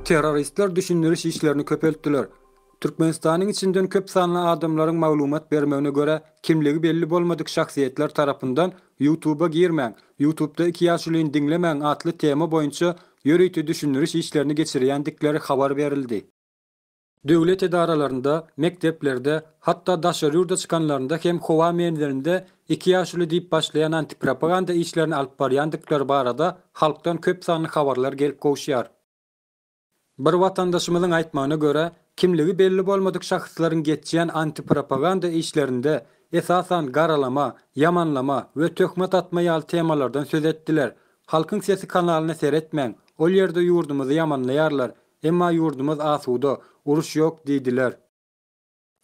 Terroristler düşündiriş işlerini köpeltdiler. Türkmenistanyň içinden köp sanly adamlaryň maglumat bermegine görä, kimligi belli bolmadyk şahsyýetler tarapyndan Ýutuba girmäň, Ýutubda iki ýaşulyny diňlemäň atly tema boýunça ýörite düşündiriş işlerini geçirýändikleri habar berildi. Döwlet edaralarynda, mekdeplerde, hatda daşary ýurda çykanlarynda hem howa menzilinde iki ýaşuly diýip başlaýan antipropaganda işlerini alyp barýandyklary barada halkdan köp sanly habarlar gelip gowuşýar. Bir watandaşymyzyň aýtmagyna görä, kimligi belli bolmadyk şahslaryň geçýän antipropaganda işlerinde, esasan, garalama, ýamanlama we töhmet atma ýaly temalardan söz etdiler. Halkyň sesi kanalyna seretmäň, ol ýerde ýurdumyzy ýamanlaýarlar, Emma ýurdumyz asuda, uruş ýok diýdiler.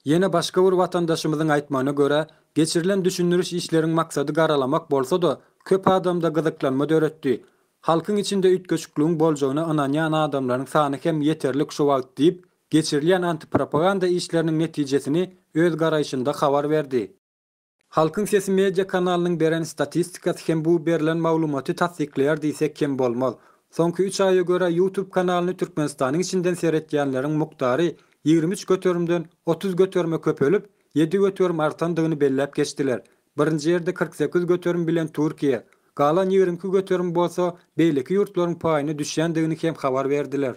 Ýene başga bir watandaşymyzyň aýtmagyna görä, geçirilen düşündiriş işleriň maksady garalamak bolsa-da, köp adamda gyzyklanma döretdi. Halkyň içinde üýtgeşikligiň boljagyna ynanýan adamlaryň sany hem ýeterlik şu wagt diýip, geçirilýän antipropaganda işleriniň netijesini öz garaýşynda habar berdi. Halkyň sesi media kanalynyň beren statistikasy hem bu berlen maglumaty tassyklaýar diýsek kem bolmaz. Soňky üç aýa görä YouTube kanalyny Türkmenistanyň içinden seretýänleriň mukdary ýigrimi üç göterimden otuz göterime köpelip, ýedi göterim artandygyny belläp geçdiler. Birinji ýerde kyrk sekiz göterim bilen Türkiýe, galan ýigrimi iki göterim bolsa beýleki ýurtlaryň paýyna düşýändigini hem habar berdiler.